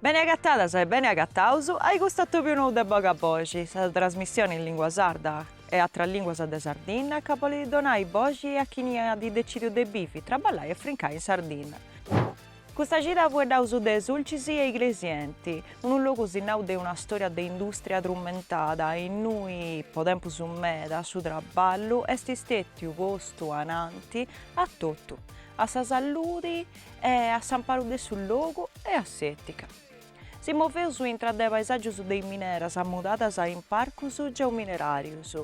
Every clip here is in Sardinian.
Bene agatadas e bene agataus a-i custu atobiu nou de Bogai Boxi, sa trasmissioni in lingua sarda e atras linguas de Sardinna ca bolit donai boxi a chini at decidiu de bivi, traballai e frincai in Sardinna. Custa cida fueddaus de Sulcis e Igresienti, unu logu sinnau de una storia de industria trumentada innui po tempus meda su traballu est stetiu postu ananti a totu, a sa salludi e a s'amparu de su logu e a s'etica. Si moveus intra de paesàgios de is mineras mudadas in parcus geomineràrios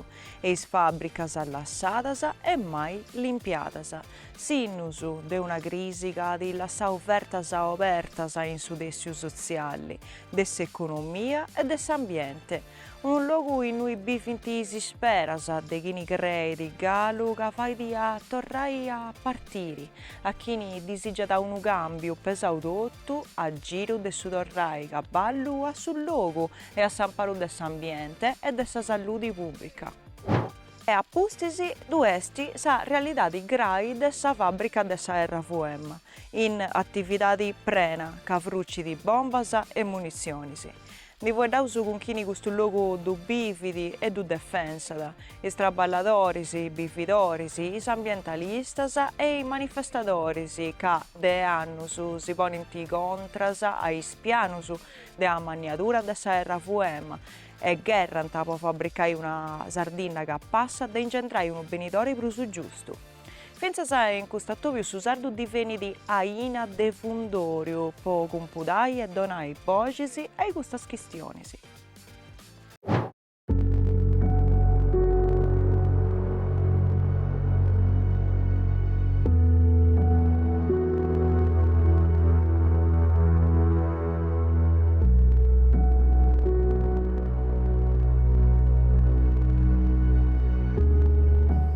e is fàbricas lassadas e mai limpiadas, sinnus de una crisi ca at lassau fertas obertas in su tèssiu sotziali, de s'economia e de s'ambiente, Unu logu innui bivint is isperas de chini creit galu ca fait a torrai a partiri, a chini disigiat unu càmbiu pesau totu a giru de su torrai caballu a su logu e a s'amparu de s'ambiente e de sa salludi pùbbrica. E a pustis ddu est sa realidadi grai de sa fàbbrica de sa RWM in atividadi prena ca frucit bombas e munitzionis. Ndi fueddaus cun chini custu logu ddu bivit e ddu defensat, is traballadoris, is bividoris, is ambientalistas e is manifestadoris ca de annus si ponint contras a is pianus de amanniadura de sa RWM e gherrant po fabricai una Sardinna ca potzat ingendrai unu benidori prus giustu. Fintzas in cust'atobiu su sardu divenit aina de fundòriu po cumpudai e donai boxis a-i custas chistionis.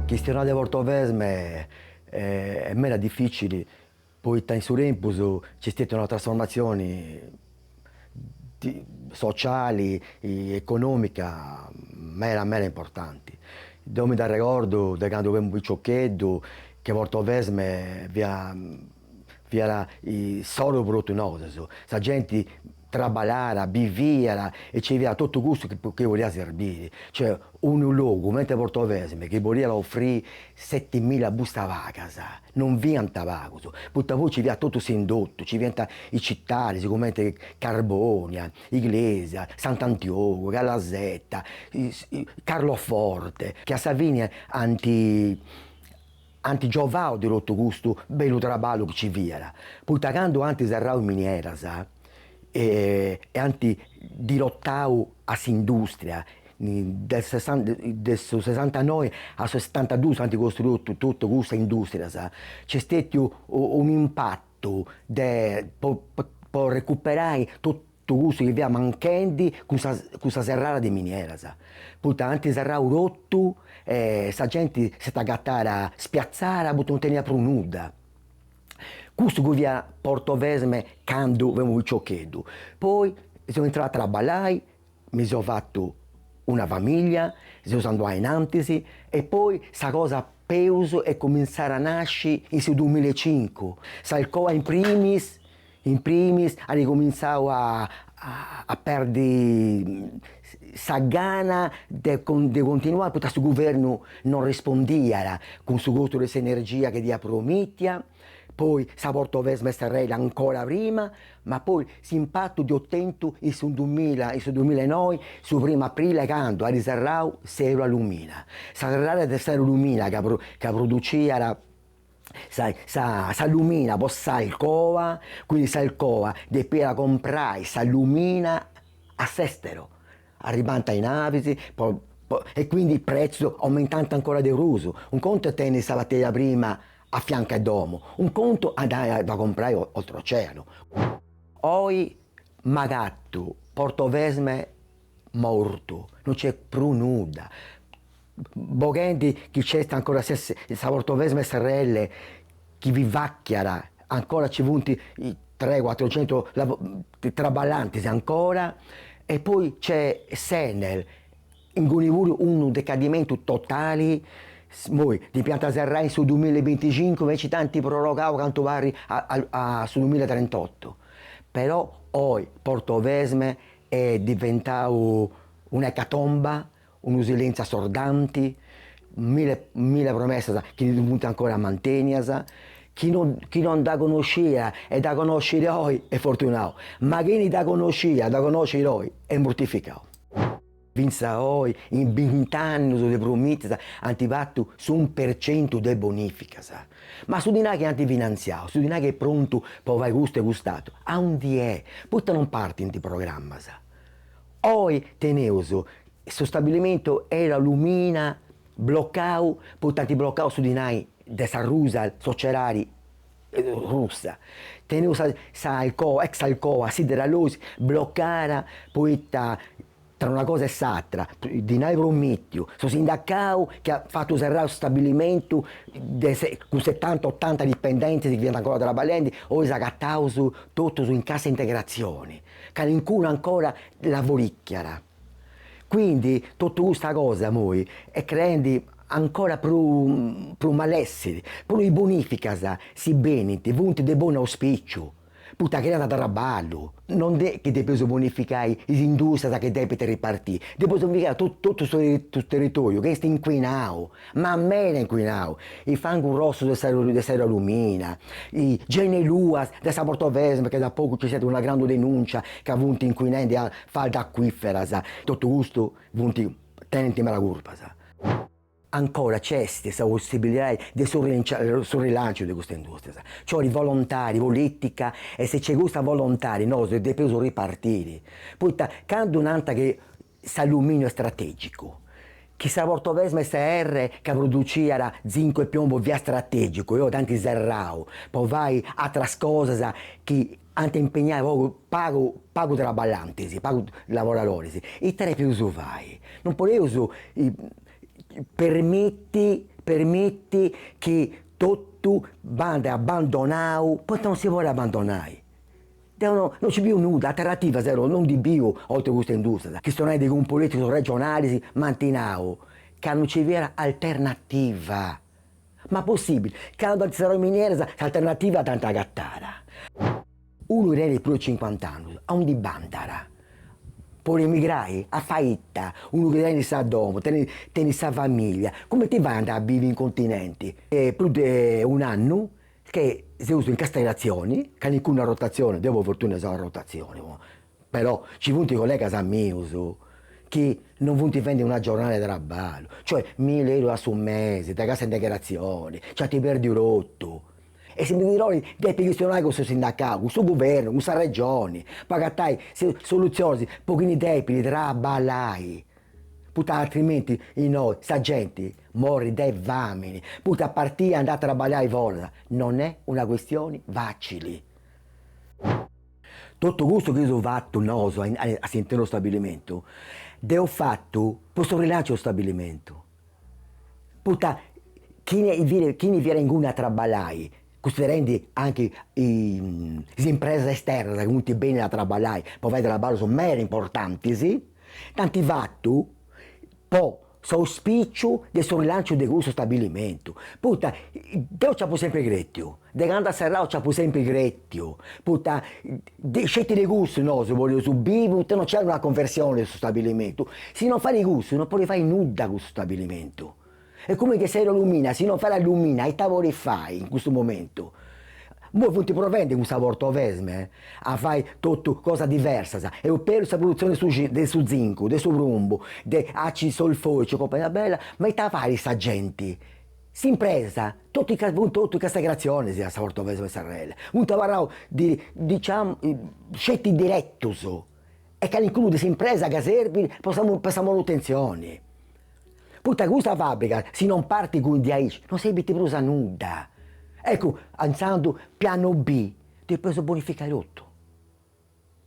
Chistionai de Portovesme est meda dificili poita in su tempus nc'est stetiu una trasformatzioni sociali e economica meda meda importanti. Deo mi nd'arregordu de candu femu piciocheddu che Portovesme fiat fiat issoro pro totu nosos, sa genti traballàt, biviat e nci fiat totu custu chi chi podiat serbire, cioè unu logu comente Portovesme chi podiat offrire setimilla bustas pagas, non fiant pagus, poita poi nci fiat totu s'indotu, nci fiant is citadis comente Carbonia, Iglesias, Sant'Antiogu, Calasetta, Carloforte, chi a sa fine ant Ant giovau de totu custu bellu traballu chi ci fiat, poita candu ant serrau is minieras e ant dirotau a s'industria, de de su sesantanoi a su setantadus ant costruiu totu cussas industrias, nc'est stetiu un'impatu de po recuperai totu Totu custu chi fiat manchendi cun sa cun sa serrada de minieras, poita ant serrau totu e sa genti s'est agatada spiatzada poita non teniat prus nudda. Custu chi fiat Portovesme candu femu piciocheddu. Poi seu intrau a traballai, mi seu fatu una familia, seus andaus a innantis e poi sa cosa peus est cumintzada a nasci in su duamilla e cincu, s'Alcoa in primis In primis at incomintzau a a perdi sa gana de de continuai poita su guvernu non rispondiat cun su costu de s'energia chi diat promitia, poi sa Portovesme Srl ancora prima, ma poi s'impatu dd'eus tentu in su dumilla in su dumilla e noi su primu aprile candu at serrau s'Eurallumina, sa serrada de s'Eurallumina ca ca produciat sa sa s'allumina po s'Alcoa, quindi s'Alcoa depiat comporai s'allumina a s'estero, arribànta is navis po po e quindi is prezzus aumentànt ancora de prus, unu contu est tenni sa materia prima a fiancu 'e domu, unu contu andai a dda comporai oltr'oceanu. Oi m'agatu Portovesme mortu, no nc'est prus nudda, boghende chi nc'est ancora sa Portovesme Srl chi vivàchiat, ancora nci funt tres cuatrucentus traballantis ancora e poi nc'est s'Enel, inguni puru unu decadimentu totali, imoi depiant serrai in su duamilla e binticincu invece nci dd'ant prorogau cantu parit a su duamilla e trentotto, però oi Portovesme Est diventau una ecatomba, unu silentziu assordanti, mille mille promessas chi funt ancora mantènias, chi no chi no dda connoscia e dda connoscit oi est fortunau, ma chini dda connosciat dda connoscit oi est murtificau. Fintzas oi in bint'annus de promissas ant fatu s'unu per centu de bonìficas, Ma su dinari chi ant finantziadu, su dinari chi est prontu pro fai custu e cust'atru, aundi est? Poita non partint programmas? Oi teneus su stabilimentu Eurallumina blocau poita ant blocau su dinari de sa Rusal, sociedadi russa, teneus sa Alcoa, ex Alcoa, SiderAlloys blocada poita Tra una cosa e s'atra, dinai promìtiu, su sindacau chi at fatu serrai su stabilimentu cun setanta otanta dipendentes chi fiant ancora traballendi, oi s'agataus totus in cassa integratzioni, calincunu ancora lavorìchiat. Quindi totu custa cosa imoi est creendi ancora prus prus malessiri. Puru is bonificas, si benint, funt de bonu auspìciu. Poita creant traballu, no est chi depeus bonificai is indùstrias chi depint ripartiri, depeus bonificai totu su territoriu chi est incuinau, ma meda incuinau, is fangus rossus de sa de s'Eurallumina, Genna Luas de sa Portovesme chi da pagu nci fiat una grandu denùncia ca funt incuinendi faldas acuìferas, totu custu funt, tenint medas curpas. Ancora nc'est sa possibilidadi de su su rilanciu de custa industrias, nc'olit volontadi politica e si nc'est custa volontadi nosu depeus ripartiri, poita candu nant chi s'alluminiu est strategicu, chi sa Portovesme srl ca produciat zincu e piombo fiat strategicu e oi ant serrau po fai atras cosas chi Ant impignai pagu pagu pagu traballantis, pagu lavoradoris, ite depius fai, non podeus permitti permitti chi totu bandit abandonau, poita non si podit abandonai, deu no no nci biu nudda, alternativa deu non ndi biu oltre custa industrias, chistionai de cun politigus regionalis m'ant nau ca non nci fiat alternativa Ma possibile, candu ant serrau is mineras s'alternativa dd'ant agatada. Unu chi tenit prus de cincuant'annus, aundi bandat? Podit emigrai? A fai ita? Unu chi tenit sa domo, tenit tenit sa familia, cumenti fait a andai a bivi in continenti? Est prus de un'annu che seus in cassa integratzioni, calincunu a rotatzioni, deu po fortuna seu a rotatzioni Però ci funt collegas mius chi non funt fendi una giornada de traballu, cioè mille euro a su mese de cassa integratzioni, nc'ant pèrdiu totu. E su ministeru depit chistionai cun su sindacau, cun su guvernu, cun sa Regioni, po agatai solutzionis po chini depit traballai, poita atrimenti innoi sa genti morrit de famini, poita a partii andai a traballai foras non est una questioni facili. Totu custu chi eus fatu nosu a a s'internu 'e su stabilimentu, dd'eus fatu po su rilancio 'e su stabilimentu, poita chini fit chini fiat inguni a traballai, cunsiderendi anchi is impresas esternas chi funt bennidas a traballai po fai traballus meda importantis, nd'ant fatu po s'auspìciu de su rilànciu de cussu stabilimentu, poita deu nci apu sempri crètiu, de candu at serrau nci apu sempri crètiu, poita de sceti de cussu nosu podeus bivi, poita non nci est una conversione de su stabilimentu, si non fait cussu non podit fai nudda cussu stabilimentu, est cumenti a sa Eurallumina, si non fait allumina ita podit fai in custu momentu Immoi funt provendi cun sa Portovesme a fai totu cosas diversas, eus perdu sa produtzioni de su de su zincu, de su prumbu, de àcidu solfòricu e compañia bella, ma ita fait sa genti, s'impresa, totu is funt totu in cassa integratzioni a sa Portovesme srl, funt abarraus diciamu sceti diretus e calincunu de s'impresa ca serbit po sa po sa manutentzioni. Poita custa fàbrica si non partit cun de aici non serbit prus a nudda. Eccu, intzandus pianu B, depeus bonificai totu,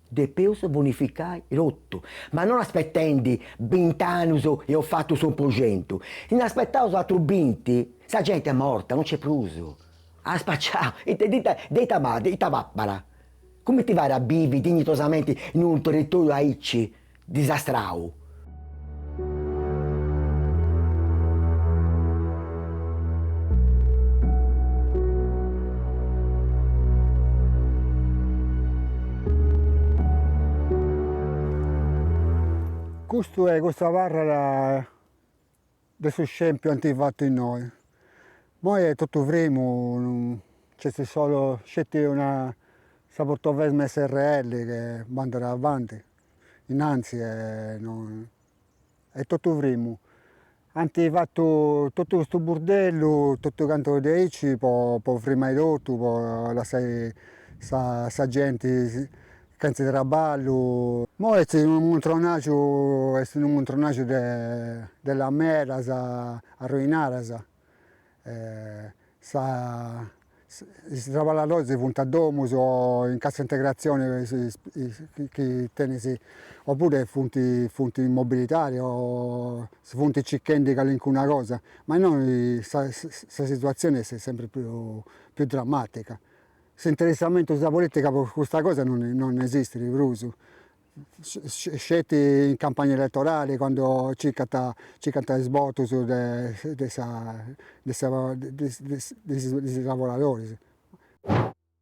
depeus bonificai totu, ma non aspetendi bint'annus eus fatu s'unu po centu, si nd'aspetaus atrus binti sa genti est morta, non nc'est prus, at spaciau, ita ita ita papat, ita papat, cumenti fait a bivi dignitosamenti in unu territoriu aici, disastrau. Custu est, custu abarrat. De su scempiu ant fatu innoi. Moi est totu frimu, nc'est solu sceti una sa Portovesme srl chi bandat avanti, innanti e est totu frimu. Ant fatu totu custu burdellu totu cantu de aici po frimai totu, po lassai sa genti Chentza traballu. Moi est unu muntronaju est unu muntronaju de de lameras arruinadas e sa is traballadoris funt a domu o in cassa integrazioni chi ndi tenint oppuru funt funt in mobilidadi o si funt circhendi calincuna cosa, ma innoi sa situazioni est sempri prus prus dramatica S'interessamentu in sa polìtica po custa cosa non non esistit prus, sceti in campagna eletorali candu circant circant is votus de de sa de sa de is lavoradoris.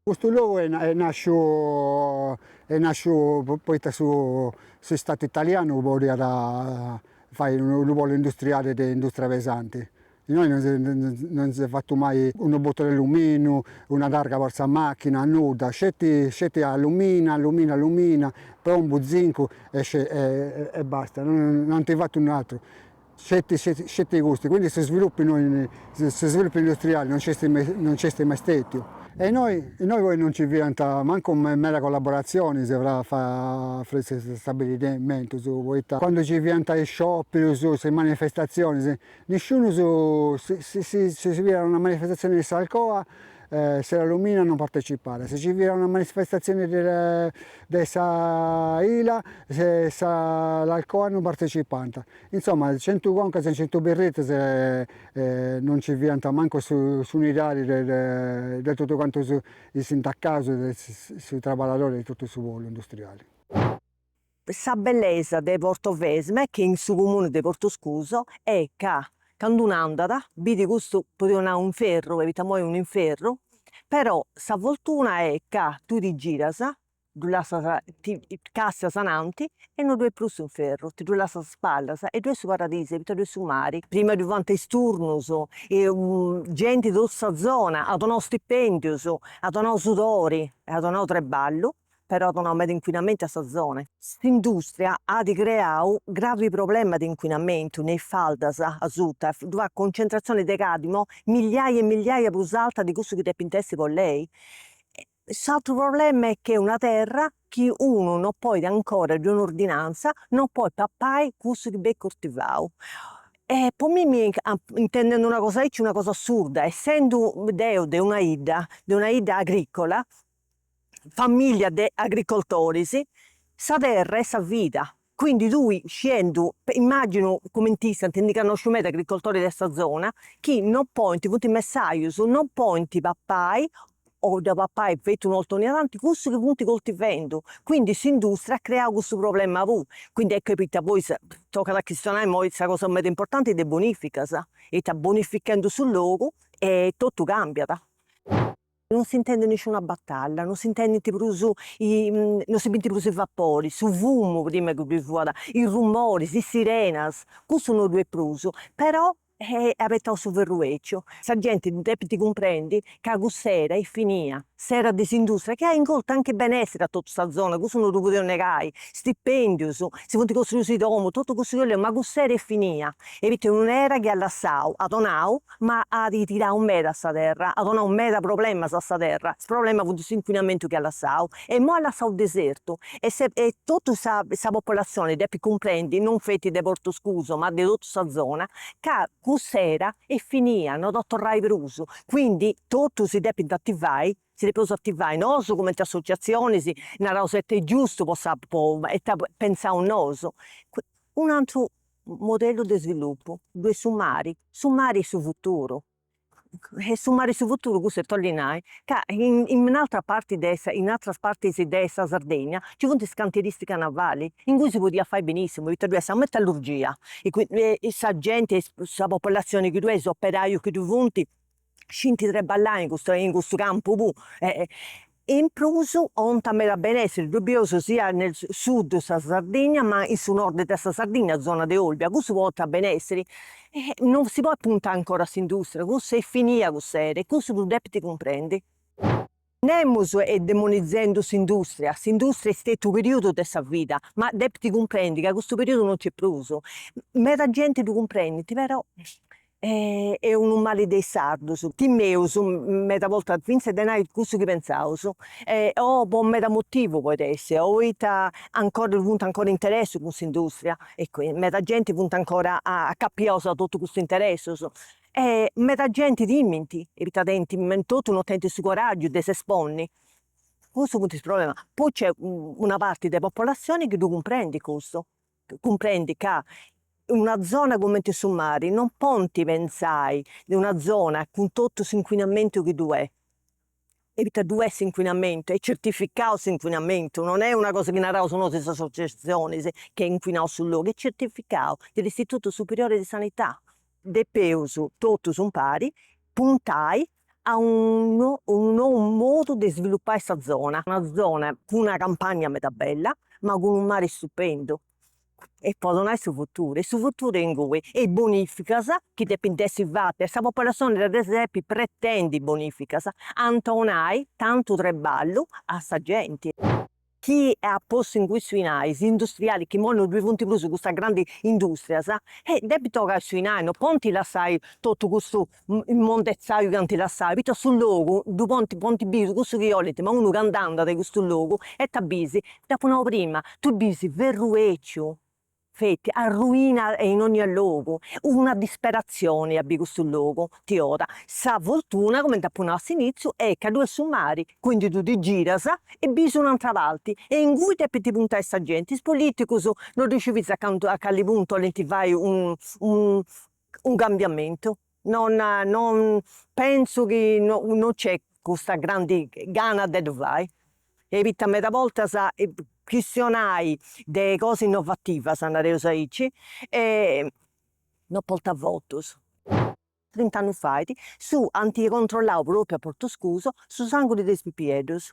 Custu logu est nàsciu est nàsciu poita su su istatu italianu podiat fai unu polu industriali de industria pesanti Innoi non non si est fatu mai unu botu de allumìniu, una targa po sa machina, nudda, sceti sceti allumina, allumina, allumina, prumu, zincu e e basta, non ant fatu àteru, sceti sceti sceti custu, quindi su sviluppu innoi, su sviluppu industriali non nc'est mai non nc'est mai stètiu. E innoi innoi poi non nci fiant mancu meda collaboratzionis fra fra fra is stabilimentus, poita candu nci fiant is scioperus, is manifestatzionis, Nisciunu su si si fiat una manifestatzione de s'Alcoa s'Eurallumina non partecipàt, si si fiat una manifestatzione de de sa Ila se sa l'Alcoa non partecipànt, insomma centu concas e centu berritas non nci fiant mancu su s'unidadi de de totu cantu is sindacaus e is traballadoris de totu su polu industriali. Sa bellesa de Portovesme chi est in su comune de Portoscuso est ca candu unu andat bidi custu podeus nai inferru poita imoi est un'inferru però sa fortuna è ca tui ti giras ddu lassas ti càstias ananti e no ddoi est prus s'inferru ti ddu lassas a spallas e ddoi est su paradisu poita ddoi est su mari prima ddoi fiant is turnus genti de totu sa zona at donau stipendius at donau sudori e at donau treballu però at donau meda incuinamentu a sa zona. S'industria at creau gravi problema de incuinamentu in is faldas asuta e ddoi at concentratzioni de cadmio milliai e milliai prus alta de cussu chi depint essi po lei. S'atru problema est chi est una terra chi unu no podit ancora ddoi funt ordinanzas no podit papai cussu chi benit cortivau. E po mimmi, intendendu una cosa aici, una cosa assurda, essendu deu de una 'idda, de una 'idda agricola, famiglia de agricoltoris, sa terra est sa vida, quindi tui sciendu, immaginu cumenti istant, ndi cannosciu meda agricoltoris de sa zona, chi non podint, funt messajus, non podint papai o dda papai feti un'orta ogni tanti, cussu chi funt coltivendu, quindi s'industria at creau cussu problema puru, quindi eccu poita poi tocat a chistionai imoi sa cosa meda importanti de bonificas, poita bonifichendi su logu e totu cambiat. Non s'intendet nisciuna batalla, non s'intendint prus i non si bint prus is vaporis, su fumu, prima chi ddoi fuat, is rumoris, is sirenas, cussu no ddoi est prus, però abetau su ferru 'èciu, sa genti ddu depint cumprendi ca cussa era est finia, s'era de s'industria chi at ingortu anchi benessiri a totu sa zona, cussu no ddu podeus negai, stipendius, si funt costruius is domus, totu cussu chi 'oleus, ma cuss'era est finia, e poita est un'era chi at lassau, at donau ma at tirau meda a sa terra, at donau meda problemas a sa terra, su problema funt s'incuinamentu chi at lassau e imoi at lassau desertu e totu sa sa popolazioni depit cumprendi non feti de Portoscuso ma de totu sa zona ca cuss'era est finia, no ddoi torrat prus, quindi totu si depint ativai, si depeus ativai nosu cumenti associazionis, naraus est giustu po sa po e ita pensaus nosu, un'atru modellu de svilupu ddu est su mari, su mari est su futuru e su mari est su futuru custu est 'ollit nai ca in un'altra parti de sa in atras partis de sa Sardegna nci funt is cantiristicas navali in cui si podiat fai benissimu poita ddoi est sa metallurgia e sa genti sa popolazioni chi ddoi est is operaius chi ddoi funt scint treballai in custu in cussu campu puru e in prus 'ònat meda benessiri, ddu bieus sia nel sud de sa Sardigna ma in su nord de sa Sardigna, zona de Olbia, cussu portat benessiri e non si podit puntai ancora a s'industria, cussa est finia cuss'era e cussu ddu depint cumprendi. Nemus est demonizzendu s'industria, s'industria est stètiu unu periudu de sa vida, ma depit cumprendi ca custu periudu non nc'est prus. Meda genti ddu cumprendit, però est unu mali de is sardus. Timeus meda bortas fintzas de nai cussu chi pentzaus, o po meda motivu podit essi, o poita ancora funt ancora interessus cun s'industria e meda genti funt ancora acapiaus a totu custus interessus. e meda genti timint poita tenint totu no tenint su coraggiu de s'esponni cussu funt is problemas poi nc'est una parti de popolazioni chi ddu cumprendit cussu cumprendit ca in una zona cumenti su mari non podint pentzai de una zona cun totu s'inquinamentu chi ddu est e poita ddu est s'incuinamentu, est certificau s'incuinamentu, non est una cosa chi naraus nosu is associazionis chi est incuinau su logu, est certificau de s'Istitutu Superiori de Sanità, depeus totus impari puntai a unu unu nou modu de svilupai sa zona, una zona cun una campagna meda bella ma cun unu mari stupendu. e po donai su futuru e su futuru est inguni e is bonificas chi depint essi fatas e sa popolazioni dda depit pretendi is bonificas ant 'onai tantu treballu a sa genti chi at postu inguni su 'inai is industriali chi imoi non ddui funt prus custas grandis industrias e depint 'ogai su 'inai non podint lassai totu custu immondetzaiu chi ant lassau, poita a su logu ddu pont pont bì cussus chi 'olint, ma unu candu andat in custu logu ita bisi, dd'apu nau prima, tu bisi ferru 'èciu feti arruina e in onnia logu, una disperatzioni a bì custu logu ti 'oda, sa fortuna cumenti apu nau a s'initziu est ca ddu est su mari, quindi tu ti giras e bisi un'antra parti e ingui depinti puntai sa genti, is politicusu no ddu sciu finzas cantu a cali puntu 'olint fai u unu cambiamentu, non non pentzu chi non nc'est custa grandi gana de ddu fai, poita meda bortas chistionai de cosas innovativas, nareus aici, non portat votus. Trint'annus fait, su ant controllau propriu a Portuscusu su sanguni de is pipieddus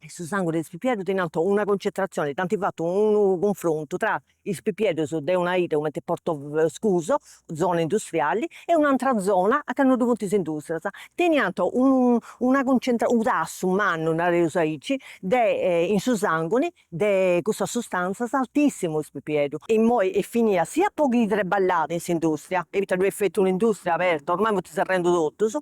su sanguni de is pipieddus tenianta una concentratzioni, ant fatu unu cunfrontu tra is pipieddus de una 'idda cumenti Portoscuso, zona industriali, e un'antra zona aca no ddu funt is industrias, tenianta unu una concentra u' tassu mannu, nareus aici, de in su sanguni de cussas sustantzas altissimu is pipieddus. Immoi est finia sia po chi traballàt in s'industria, poita ddoi est feti un'industria aberta, ormai funt serrendu totus,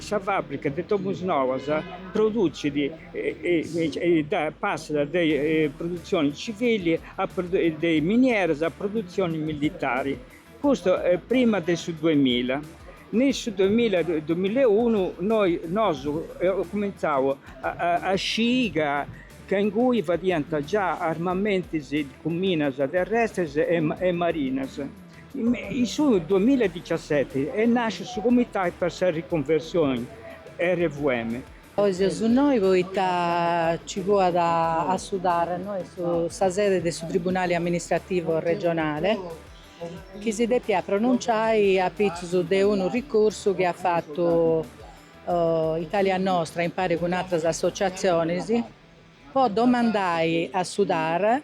Sa fàbrica de Domusnovas produtzit e passat dae produtzione civili de minieras a produtzione militari, custu prima de su duemilla. In su duemilla, duemilla e unu nosu cumentzau a scii ca ingui fadiant già armamentis cun minas terrestres e marinas. In su duamilla e dixiaseti est nàsciu su Comitau per sa Riconversioni, RWM. Oi seus innoi poita ci fuat a su TAR, innoi sa sede de su Tribunali Amministrativu Regionale chi si depiat pronunciai apitzus de unu ricursu chi at fatu Italia Nostra impari cun atras associatzionis, po domandai a su TAR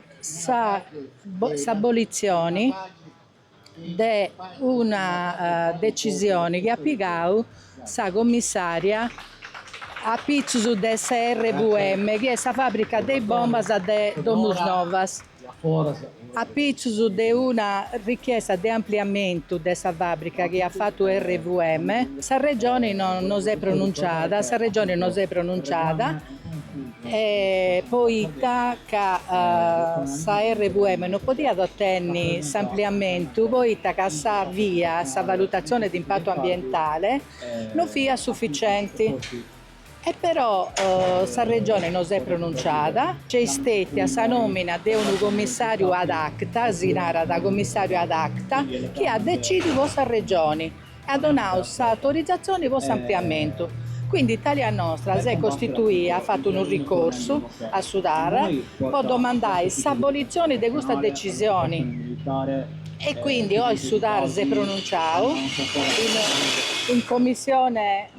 s'abolitzioni de una decisioni chi at pigau sa commissària apitzus de sa RWM, chi est sa fàbrica de is bombas de Domusnovas. Apitzus de una richiesta de ampliamentu de sa fàbrica chi at fatu RWM, sa Regioni non s'est pronunciada, sa Regioni non s'est pronunciada poita ca sa RWM non podiat otenni s'ampliamentu poita ca sa VIA, sa valutatzione de impatu ambientale, non fiat sufficienti. E però sa Regione no s'est pronuntziada, nc'est stètia sa nòmina de unu comissàriu ad acta, si narat comissàriu ad acta, chi at decìdiu po sa Regione e at donau s'autorizatzione po s'ampliamentu. Quindi Italia Nostra s'est costituida, at fatu unu ricorsu a su TAR, po domandai s'abolitzione de custa decisione. E quindi oi su TAR s'est pronuntziadu in commissione,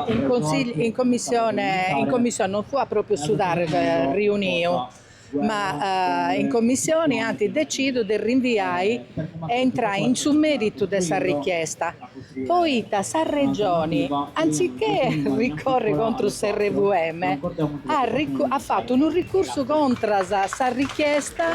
in consigliu, in commissione, in commissione, non fuat pròpriu su TAR riuniu, ma in commissione ant decidiu de rinviai e intrai in su mèritu de sa richiesta. poita sa Regioni, antzitché ricorri contrus sa RWM, at fatu unu ricursu contras sa richiesta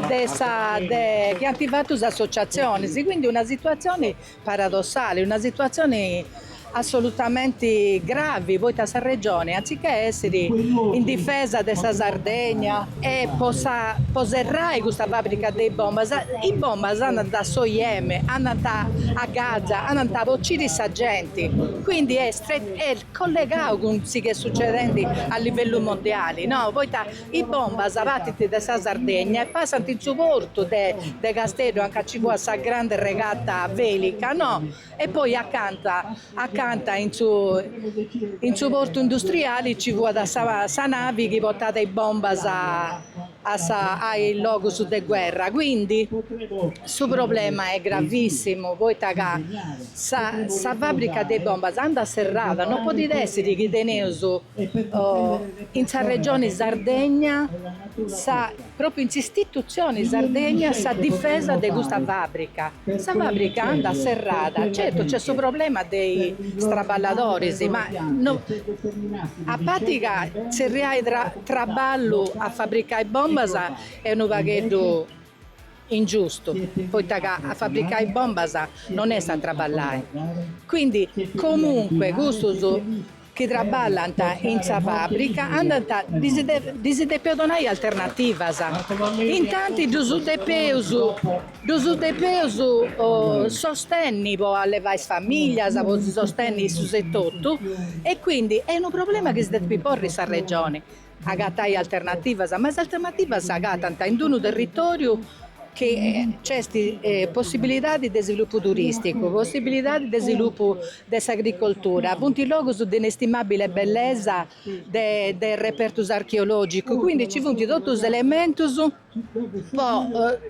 de sa chi ant fatu is associatzionis. Quindi una situatzioni paradossali, una situatzioni assolutamenti gravi, poita sa Regioni, antzitché essiri in difesa de sa Sardegna, E po sa po serrai custa fàbrica de bombas, is bombas andant a su Yemen, andant a Gaza, andant po bociri sa genti, quindi est est collegau cun su chi est sucedendi a livellu mondiali, no, poita is bombas partint de sa Sardegna e passant in su portu de de Casteddu anca nci fuat sa grande regata vèlica, no, E poi acanta acanta in su in su portu industriali ci fuat sa sa navi chi portat is bombas a a sa a is logus de guerra, quindi su problema est gravissimu poita ca sa sa fabrica de is bombas andat serrada, non podit essiri chi teneus in sa regioni Sardegna sa Pròpiu in s'istitutzioni Sardegna sa difesa de custa fàbrica. Sa fàbrica andat serrada, certu nc'est su problema de is traballadoris, ma a parti ca tzerriai traballu a fabricai bombas est unu pagheddu ingiustu, poita ca a fabricai bombas non est a traballai. Quindi comunque custus chi traballant in sa fàbrica andant ddis depeus donai alternativas, intanti ddus depeus ddus depeus sostenni po allevai is famìllias, po si sostenni issus etotu e quindi est unu problema chi si depit porri sa Regioni Agatai alternativas, ma is alternativas s'agatant in d-unu territòriu chi nc'est possibilidadi de svilupu turìsticu, possibilidadi de svilupu de s'agricoltura, funt logus de inestimàbile bellesa de de repertus archeològicus, quindi nci funt totus is elementus po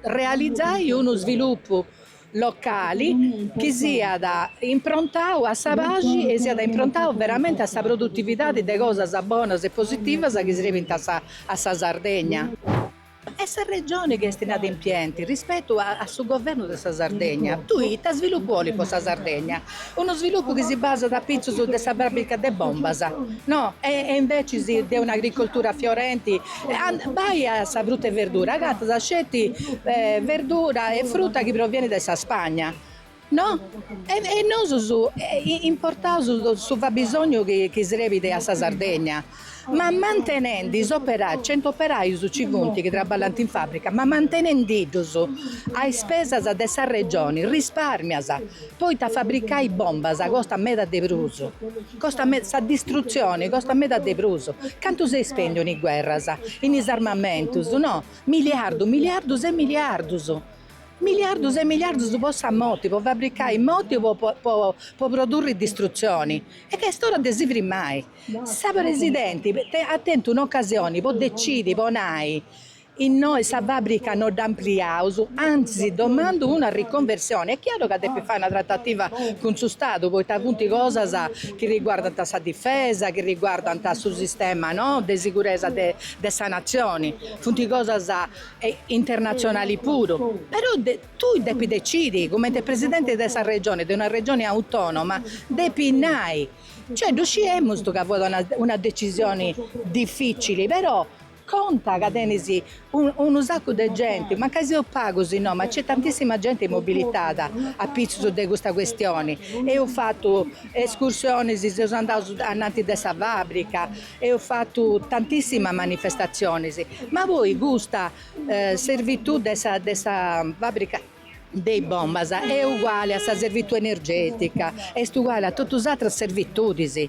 realizai unu svilupu locali chi siat improntadu a sa paxi e siat improntadu veramente a sa produtividadi de cosas bonas e positivas chi srebint a sa a sa Sardegna e sa Regioni est inadempienti rispetu a su Governu de sa Sardegna. Tui ita svilupu 'olis po sa Sardegna? Unu svilupu chi si basat apitzus de sa fàbrica de bombas, no, e e invecis de un'agricoltura fiorenti, bai a sa fruta e verdura, agatas sceti verdura e fruta chi provienit dae sa Spagna, no, e nosus importaus su fabisognu chi serbit a sa Sardegna Ma mantenendi is operàius, centu operàius nci funt chi traballant in fàbrica, ma mantenendi-ddus a ispesas de sa Regioni rispàrmias, poita fabricai bombas costat meda de prus, costat meda, sa distrutzioni costat meda de prus. Cantu s'est spèndiu in is guerras, in is armamentus, no, miliardus, miliardus e miliardus, miliardus e miliardus po sa moti, po fabricai moti po po po produrri distrutzioni. E est ora de si firmai. Sa presidenti at tentu un'ocasioni po decidi po nai, Innoi sa fàbrica no dd'ampliaus, antzis domandu una riconversioni. Est chiaru ca depit fai una tratativa cun su Stadu, poita funt cosas chi riguardant sa difesa, chi riguardant su sistema, no, de siguresa de sa Natzioni, funt cosas internatzionali puru. Però tui depis decidi, cumenti presidenti de sa Regioni, de una Regioni autonoma, depis nai Cioè ddu sciemus ca fuat una una decisioni dificili, però conta ca tenis unu saccu de genti, mancai seus pagus innoi, ma nc'est tantissima genti mobilitada apitzus de custa questioni. Eus fatu escursionis, seus andaus ananti de sa fabbrica, eus fatu tantissima manifestazionis, ma poi custa servitù de sa de sa fabbrica de is bombas est uguali a sa servitu energètica, est uguali a totu is atras servitudis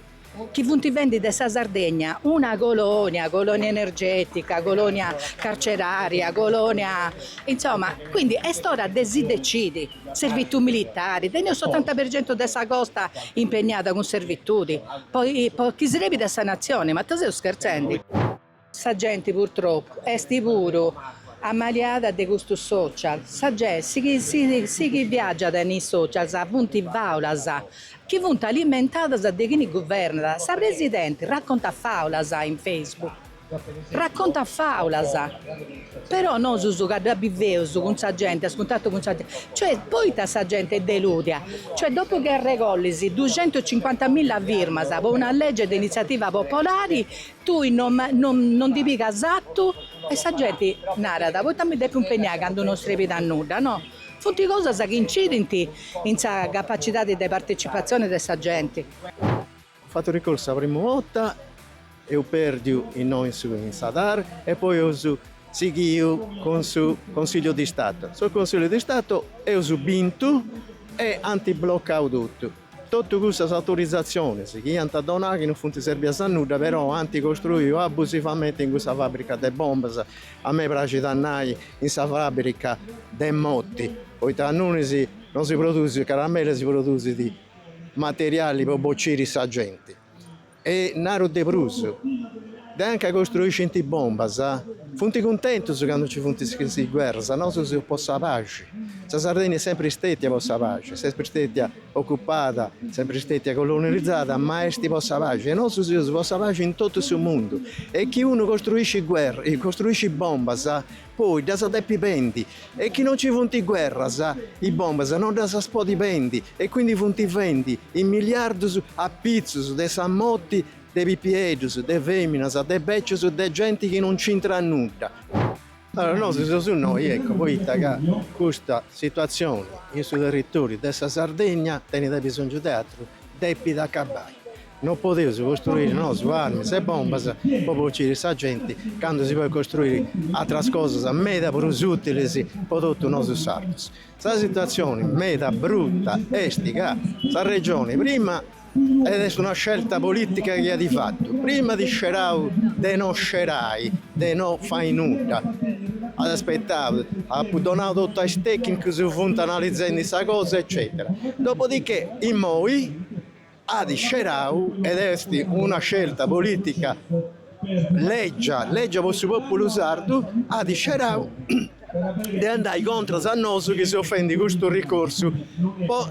chi funt fendi de sa Sardegna una colònia, colònia energètica, colònia carcerària, colònia, insoma, quindi est ora de si decidi, servitu militari, teneus su otanta per centu de sa costa impegnada cun servitudi po chi srebit a sa natzioni, ma ita seus scherzendi. Sa genti purtropu est puru ammaliada de custus social, sa ge, su chi su su chi viaggiat in is socials funt faulas chi funt alimentadas de chini guvernat, sa presidenti raccontat faulas in facebook, raccontat faulas, però nosus ca dda biveus cun sa genti, a cuntattu cun sa genti, cioè poita sa genti est delùdia, cioè dopu chi arregollis duxentucincuantamilla firmas po una legge de iniziativa popolari Tui non non ndi pigas atu? E sa genti narat, poita mi depu impegnai candu non srebit a nudda, no? Funt cosas chi incidint in sa capacidadi de partecipatzioni de sa genti. Eus fatu ricorsu sa primu borta, eus pèrdiu innoi su in sa Tar e poi eus sighiu cun su Consigliu di Stato. Su Consigliu di Stato eus bintu e ant blocau totu. Totu cussas autorizatziones chi iant donau chi non funt sèrbias a nudda però ant costruiu abusivamente in cussa fàbrica de bombas, a mei praxit a nai in sa fàbrica de moti, poita ingunis non si produsit caramelle si produsit materiali po bociri sa genti. E naru de prus, de anca costruiscint bombas, funt cuntentus candu nci funt is guerras, nosu seus po sa paxi, sa Sardegna est sempri stètia po sa paxi, est sempri stètia ocupada, sempri stètia colonializada, ma est po sa paxi e nosu seus po sa paxi in totu su mundu e chi unu costruiscit guerras, costruiscit bombas Poi ddas depit bendi e chi non ci funt guerras is bombas non ddas podit bendi e quindi funt fendi is miliardus a pitzus de sa moti de pipieddus, de feminas, de becius, de genti chi non nc'intrat nudda. Allora nosu seus innoi ecco poita ca custa situazioni in su territoriu de sa Sardegna tenit abisongiu de atru depit acabai. Non podeus costruiri nosu armis e bombas po bociri sa genti candu si podit costruiri atras cosas meda prus utilis po totus nosu sardus. Sa situatzioni meda bruta est ca sa regioni prima et est una scelta politica chi at fatu prima at scerau de no scerai, de no fai nudda, at aspettau, apu donau totu a is tecnicus chi funt analizendi sa cosa eccetera. Dopodichè immoi. at scerau ed est una scelta politica lègia, lègia po su pòpulu sardu, at scerau de andai contras a nosu chi seus fendi custu ricorsu po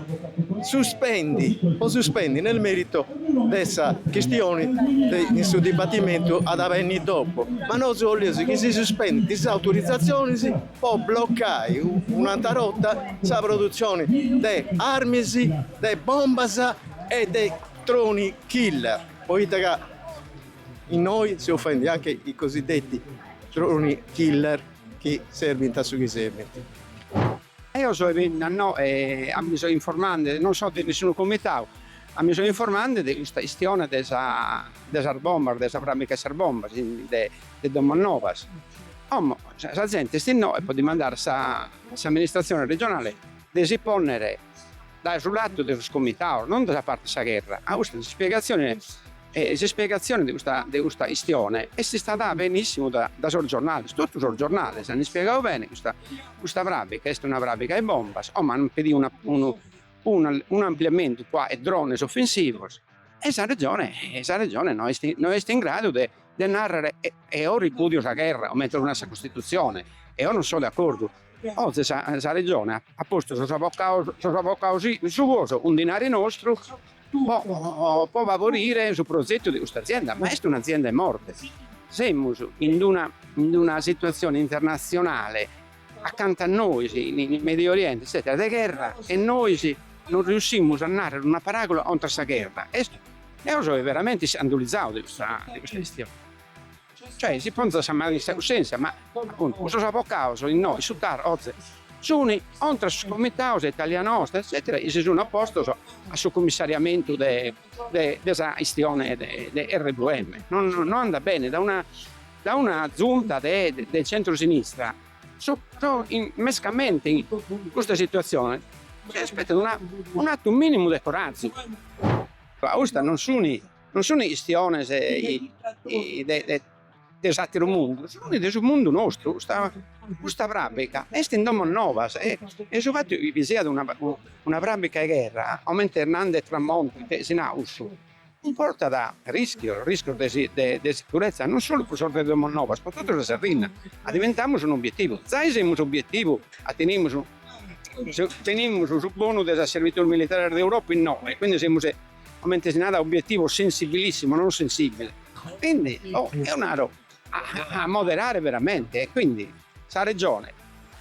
suspendi po suspendi nel merito de sa chistioni de in su dibatimentu at a benni dopo, ma nosu 'olius chi si suspendint is autorizazionis po blocai un'atra borta sa produtzioni de armis, de bombas e de droni killer, poita ca innoi seus faendi anche i cosiddetti droni killer chi serbint a su chi serbint. Eo so 'e penna no e a mi so informandi, non so de nessunu comitau, a mi so informandi de custa chistione de sa de sas bombas, de sa fràbica 'e sas bombas, de de Domos Novas. Como sa zente est innoe po dimandare a s'amministratzione regionale de si ponnere dae su latu de sos comitados, non dae sa parte 'e sa gherra. A custa s'ispiegatzione s'ispiegatzione de custa chistione est istada benissimu dae sos giornales, totu sos giornales an ispiegadu bene custa custa prabica, est una prabica 'e bombas, como an pedidu una unu un'ampliamentu cun 'e drones offensivos. E sa Regione e sa Regione no est no est in gradu de de narrere eo ripudio sa gherra comente nat sa Costituzione eo non so de accordu. Oze sa sa Regione at at postu sos avvocados sos avvocados suos cun dinare nostru po po favorire su progettu de custa azienda, ma est un'azienda 'e morte. Semus in d'una in d'una situazione internazionale Acanta a nois, in Medio Oriente etzètera de gherra e nois non riussimus a nàrrere una paràgula contra sa gherra. Est, eo so veramente iscandulitzau de custa chistione. Cioè, si ponzat sa manu in sa cussèntzia, ma, apuntu, custos avocados innoe, su TAR, oze, sunt contra sos comitados de Italia Nostra, etzètera, chi si sunt opostos a su cumissariamentu de sa chistione de RWM. No andat bene, Da una Zunta de de centro-sinistra su pro mescamente in custa situazione si aspettat una un'attu minimu de corazu. Custa non suni non suni chistiones de de de s'atteru mundu, suni de su mundu nostru, custa custa prabbica est in Domos Novas e e su fattu chi siat una prabbica 'e gherra comente nand'e Tramonti, si nau cussu cumportat rischios, rischios de sicuretza non solu pro sos de Domos Novas, pro totu sa Sardigna, addiventamus un obietivu, zai semus obietivu ca tenimus tenimus su bonu de sas servitudes militares de Europa innoga e quindi semus comente si narat obietivu sensibilissimo non sensibile e quindi oh eo naro a moderare veramente e quindi sa Regione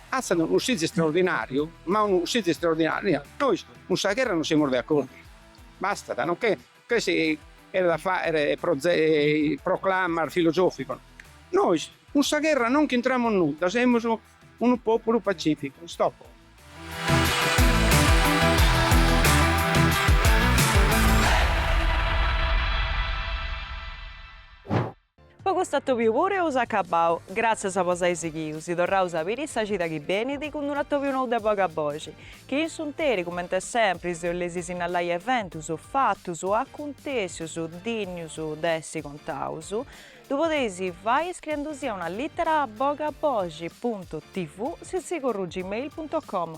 fatzat unu cussizu straordinariu ma unu cussizu straordinariu nois cun sa gherra non semus de accordu Bastat, no che si cheret a fàghere proclamas filosòficos. Nois cun sa gherra non nch'intramus nudda, semus unu pòpulu pacìficu. Stop. Po custu atòbiu puru eus acabau. Gràtzias po s'ai sighiu, si torraus a biri sa cida chi benit cun d'un'atòbiu nou de Boga Boxi, chi in s'unteri, comente sempri, si 'oleis sinnalai eventus, fatus, acuntèssius, dinnius de essi contaus, ddu podeis fai scriendusi a una lìtera a bogaboxi puntu tv sitzigorru gmail puntu com